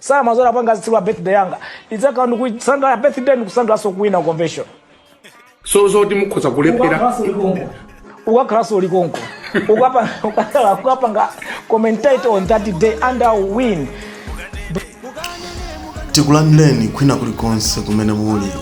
Zidzapangika pa tsiku la birthday yanga. Ndidzakhala ndikusangalala birthday ndikusangalanso kuwina convention. so zoti mukhoza kulephera Ukakhalanso uli konko. Ukapanga commentate on that day and I will win. tikulandireni kwina kulikonse kumene muli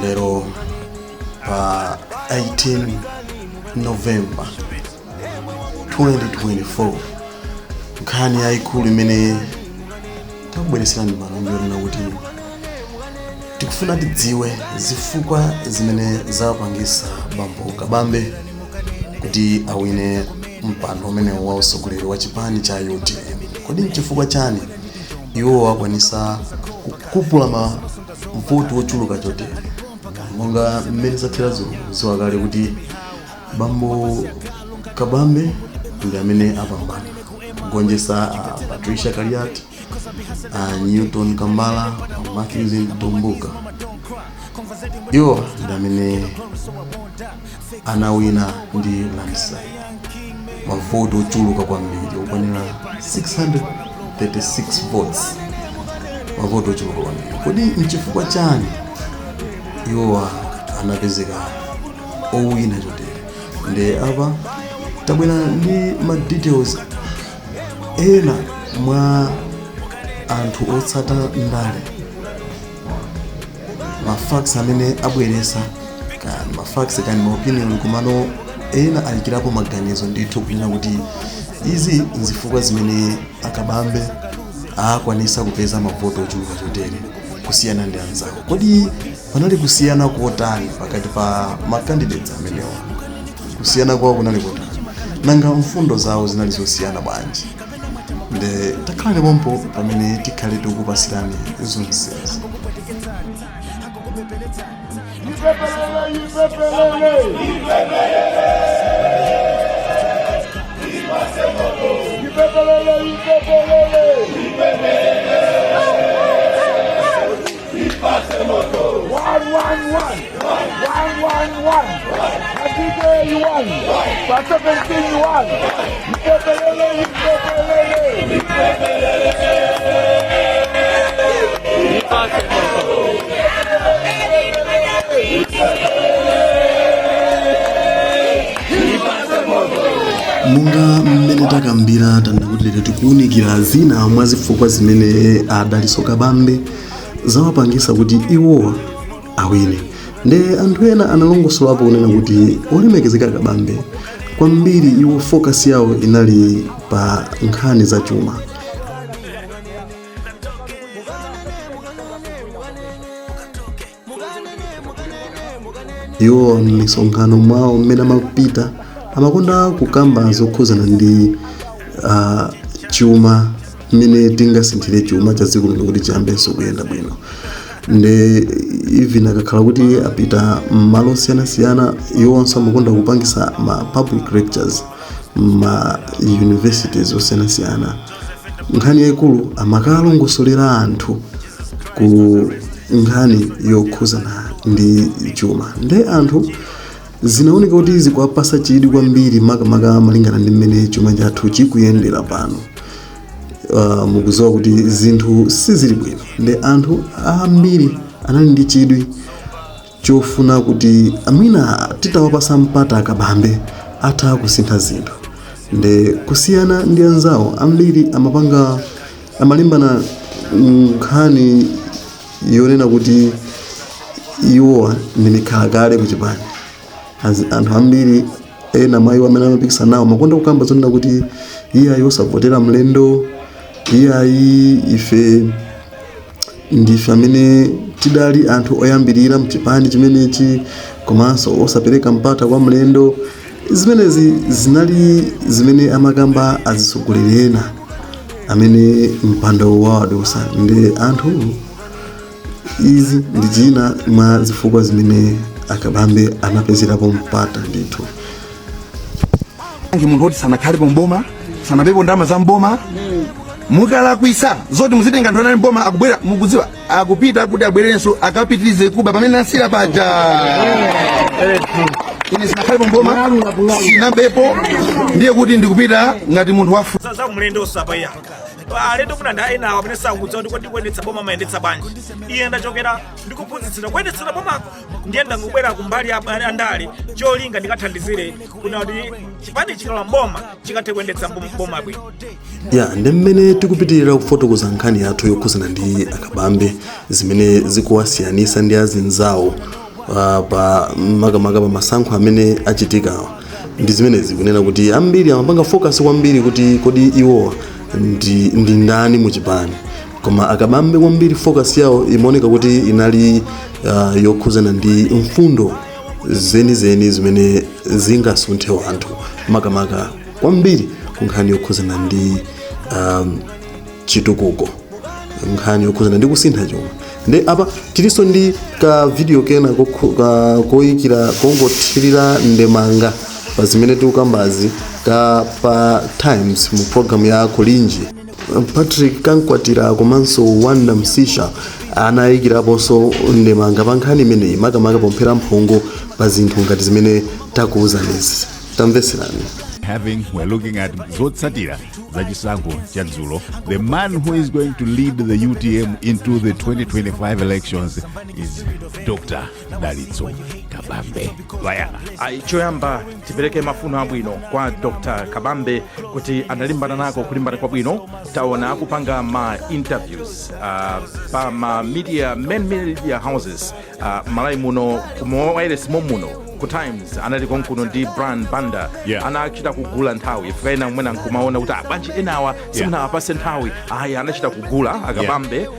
lero pa 18 novemba 2024 nkhani yayikulu imene takubwereserani pano ndi yonena kuti tikufuna tidziwe zifukwa zimene zawapangisa bambo kabambe kuti awine mpando umene wa usogoleri wa chipani cha utm kodi nchifukwa chani iwo akwanisa kukupula mavoti ochuluka chotere monga mmene zatheramo dziwani kale kuti bambo kabambe ndi amene apambana kugonjetsa a patricia kaliati a newton kambala a matthews mtumbuka iwowa ndi amene anawina ndi landslide mavoti ochuluka kwambiri okwanira 636 votes mavoti ochuluka kwambiri kodi nchifukwa chani iwowa anapezeka owina chotere nde apa tabwera ndi ma details ena mwa anthu otsata ndale ma facts amene abweresa kaya ndi ma facts kaya ndi ma opinion komano ena ayikirapo maganizo ndithu kunena kuti izi nzifukwa zimene akabambe akwanisa kupeza mavoto ochuluka chotere kusiyana ndi anzawo kodi Panali kusiyana kotani pakati pa makandidates amenewa? Kusiyana kwawo kunali kotani? Nanga mfundo zawo zinali zosiyana bwanji? Nde takhalani pompo pamene tikhale tikukupasirani zonsezi. Ipepelele, ipepelele, ipepelele. monga mmene takambira tanena kuti lero tikuwunikira zina mwa zifukwa zimene adaliso kabambe zawapangisa kuti iwowa awine nde anthu ena analongosolapo kunena kuti olemekezeka kabambe kwambiri iwo focus yawo inali pa nkhani za chuma iwo m'misonkhano mwawo mmene amapita amakonda kukamba zokhuzana ndi uh, chuma mmene tingasinthire chuma cha dziko lino kuti chiyambenso kuyenda bwino nde even akakhala kuti apita mmalo osiyanasiyana iwonso amakonda kupangisa ma public lectures ma universities osiyanasiyana nkhani yayikulu amakalongosolera anthu ku nkhani yokhuzana ndi chuma nde anthu zinaoneka kuti zikuwapasa chidwi kwambiri makamaka malingana ndi mmene chuma chathu chikuyendera pano uh, mukuziwa kuti zinthu sizili bwino nde anthu ambiri anali ndi chidwi chofuna kuti mwina titawapasa mpata akabambe atha kusintha zinthu nde kusiyana ndi anzawo ambiri amapanga amalimbana nkhani yonena kuti iwowa ndi mikhalakale kuchipani As- anthu ambiri ena mwa iwo amene amapikisana nawo amakonda kukamba zonena kuti iyayi osavotera mlendo iyayi ife Ndife amene tidali anthu oyambirira mchipani chimenechi komanso osapereka mpata kwa mlendo. Zimenezi zinali zimene amakamba azitsogoleri ena amene mpando wawadutsa. Nde anthu, Izi ndi china mwa zifukwa zimene akabambe anapezerapo mpata ndithu. angi munthu oti sanakhalepo mboma sanabepo ndalama za mboma mukalakwisa zoti muzitenga anthu anali mboma akubwera mukudziwa akupita kuti abwerenso akapitirize kuba pamene nasira paja ine sinakhalepo mboma sinabepo ndiye kuti ndikupita ngati munthu wafu za za mlendo usapaya alendo kunena anthu ena awo amene sakudziwa kuti kodi kuyendetsa boma amayendetsa bwanji iye ndachokera ndikuphunzitsira kuyendetsera boma ndiye ndangobwera kumbali ya abale andale cholinga ndikathandizire kunena kuti chipani chikalowa mboma chikathe kuyendetsa mbom- boma bwino ya ndi mmene tikupitirira kufotokoza nkhani yathu yokhuzana ndi akabambe zimene zikuwasiyanisa ndi azinzawo uh, pa makamaka pa masankho amene achitikawa ndi zimenezi kunena kuti ambiri amapanga focus kwambiri kuti kodi iwowa ndi, ndi ndani mu chipani koma akabambe kwambiri focus yawo imaoneka kuti inali uh, yokhuzana ndi mfundo zenizeni zimene zingasunthe wanthu makamaka kwambiri ku nkhani yokhuzana ndi um, chitukuko nkhani yokhuzana ndi kusintha chuma nde apa tilinso ndi ka video kena kokhu- ka- koyikira kongothirira ndemanga pa zimene tikukambazi ka pa times mu programu ya Kulinji Patrick Kankwatira komanso Wonder Msiska anayikiraponso ndemanga pa nkhani imeneyi makamaka pomphera mphongo pa zinthu ngati zimene takuwuzanizi. Tamvetserani. having we're looking at zotsatira za chisankho cha dzulo the man who is going to lead the utm into the 2025 elections is dr dalitso kabambe vaya ayi choyamba tipereke mafuno abwino kwa dr kabambe kuti analimbana nako kulimbana kwabwino taona akupanga ma interviews uh, pa ma media main media houses uh, malawi muno kumawailesi momuno ku times anali konkuno ndi brian banda Yeah. anachita kugula nthawi chifukwa ena mwina nkumaona kuti abanji enawa simunawapatse nthawi ayi anachita kugula akabambe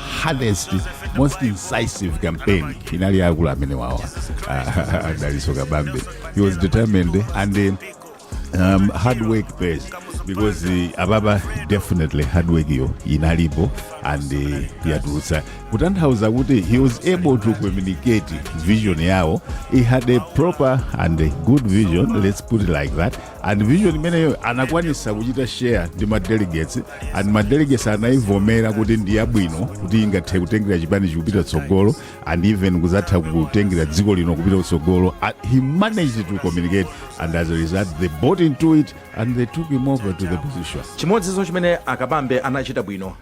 hardest most incisive campaign inali yakulu amene wawa adaliso kabambe he was determined and uh, um, hard work pays because uh, ababa definitely hard work yo inalipo and uh, yatulutsa kutanthauza kuti he was able to communicate vision yawo he had a proper and a good vision let's put it like that and vision imeneyo anakwanisa kuchita share ndi ma delegates and ma delegates anayivomera kuti ndi yabwino kuti ingathe kutengera chipanichi kupita tsogolo and even kuzatha kutengera dziko lino kupita kutsogolo And he managed to communicate and as a result they bought into it and they took him over to the position chimodzinso chimene akabambe anachita bwino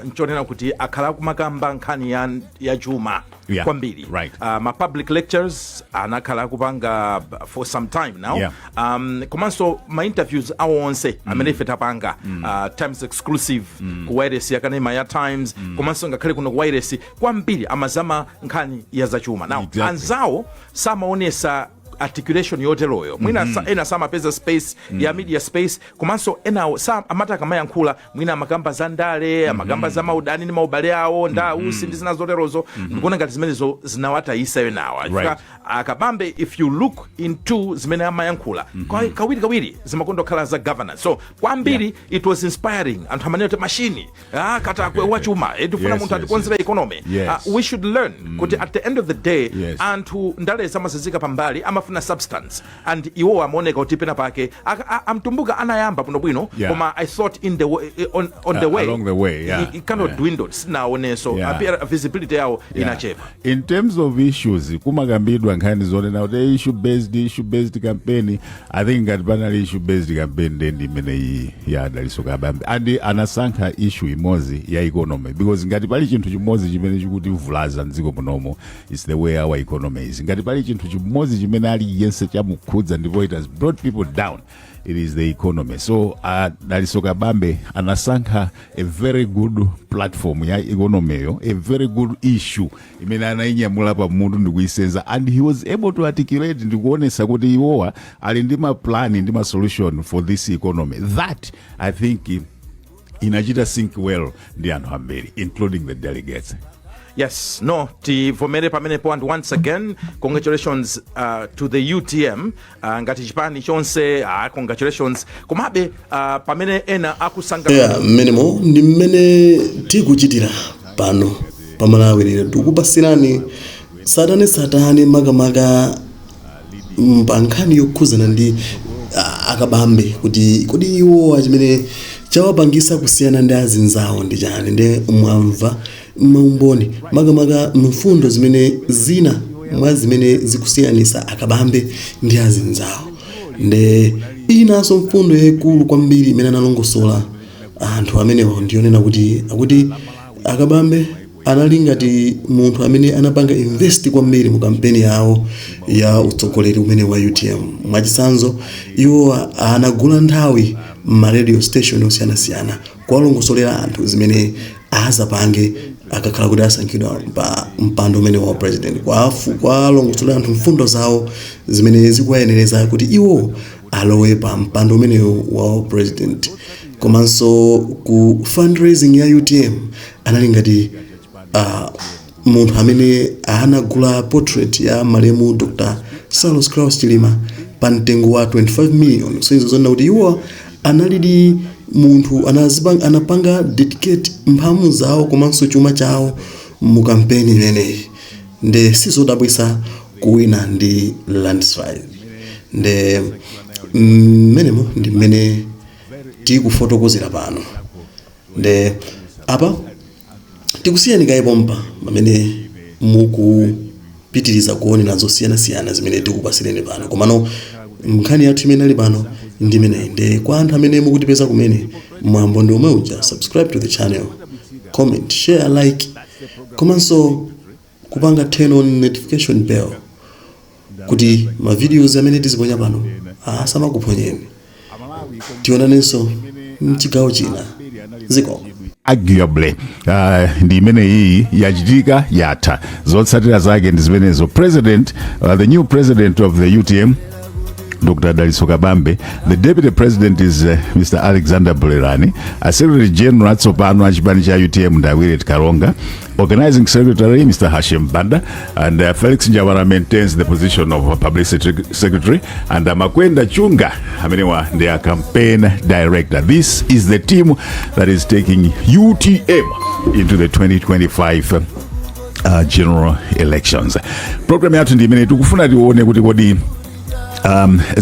nchonena kuti akhala akumakamba nkhani ya, ya chuma Yeah, kwambiri right. uh, ma public lectures amene akhala akupanga b- for some time now Yeah. um, komanso ma interviews awo onse amene ife tapanga uh, times exclusive ku wailesi yakanema ya times komanso ngakhale kuno ku wailesi kwambiri amazama nkhani ya zachuma now Exactly. anzawo samaonetsa articulation yoteroyo mwina sa- ena samapeza space ya media space komanso enawo sa- amati akamayankhula mwina amakamba za ndale amakamba za maudani ndi maubale awo ndi a Usi ndi zina zoterozo ndikuona ngati zimenezo zinawatayitsa enawa Right. Chifukwa akabambe if you look into zimene amayankhula kwa- kawiri kawiri zimakonda kukhala za governance so kwambiri it was inspiring anthu amanena kuti mashini ah, katakwe wachuma eh, tifuna Yes, munthu yes, atikonzera economy Yes. Ah, we should learn kuti at the end of the day Yes. anthu ndale amaziyika pambali amafuna substance and iwowa amaoneka kuti pena pake aka- a- a Mtumbuka anayamba bwinobwino Yeah. koma i thought in the way, eh, on, on the Uh, way along the way, yeah. it, it kind of Yeah. dwindled sinaonenso Yeah. appear visibility yawo Yeah. inachepa in terms of issues kumakambidwa nkhani zonena kuti issue based issue based campaign i think ngati panali issue based campaign nde ndi imeneyi ya a dalitso kabambe and anasankha issue imodzi ya economy because ngati pali chinthu chimodzi chimene chikutivulaza mdziko munomo It's the way our economy is. Ngati pali chinthu chimodzi chimene aliyense chamukhudza ndipo it has brought people down it is the economy so a dalitso kabambe anasankha a very good platform ya economy yo a very good issue imene anainyamula pa mutu ndikuisenza and he was able to articulate ndikuonesa kuti iwowa ali ndi maplani ndi masolution for this economy that i think inachita sync well ndi anthu ambiri including the delegates Yes, no, tivomere pamenepo and once again congratulations uh, to the UTM uh, ngati chipani chonse uh, congratulations komabe uh, pamene ena akusanga ya mmenemo ndi mmene tikuchitira pano pamalawi lero tikupasirani satane satane makamaka mm, pa nkhani yokhudzana ndi ah, akabambe kuti kodi iwowa chimene chawapangisa kusiyana ndi azinzawo ndi chani nde mwamva maumboni makamaka mfundo zimene zina mwa zimene zikusiyanisa akabambe ndi azinzawo nde inanso mfundo yayikulu kwambiri imene analongosola anthu amenewo ndiyonena kuti akuti akabambe Anali ngati munthu amene anapanga invest kwambiri mu kampeni yawo ya utsogoleri umenewu wa utm. Mwachitsanzo, iwo anagula nthawi mma radio station osiyanasiyana kuwalongosolera anthu zimene azapange akakhala kuti asankhidwa pa mpando umenewu wa president, kuwalongosolera anthu mfundo zawo zimene zikuwayenereza kuti iwo alowe pa mpando umenewu wa u president. Komanso ku fundraising ya utm anali ngati ah, munthu amene anagula portrait ya malemu dr saulos klaus chilima pa mtengo wa 25 million so izo zonena kuti iwo analidi munthu anazipang- anapanga dedicate mphamu zawo komanso chuma chawo mu kampeni imeneyi nde sizodabwisa kuwina ndi landslide nde mmenemo ndi mmene tikufotokozera pano nde apa tikusiyeni kaye pompa pamene mukupitiriza kuonera zosiyanasiyana zimene tikupasireni pano komano nkhani yathu imene inali pano ndi imeneyi nde kwa anthu amene mukutipeza kumene mwambo ndi omwe uja subscribe to the channel comment share like komanso kupanga turn on notification bell kuti ma videos amene tiziponya pano asamakuphonyeni tionanenso mchigawo china zikomo arguably uh, ndi imene iyi yachitika yatha zotsatira zake ndi zimenezo president uh, the new president of the utm Dr. Dalitso Kabambe, the deputy president is uh, Mr. Alexander Bulirani, a secretary general atsopano a chipani cha UTM ndi a Willet Kalonga, Organizing Secretary Mr. Hashim Banda and uh, Felix Njavara maintains the position of Publicity Secretary and uh, Makwenda Chunga amenewa ndi a campaign director. This is the team that is taking UTM into the 2025 uh, general elections. Program yathu ndi imene tikufuna tione kuti kodi um, za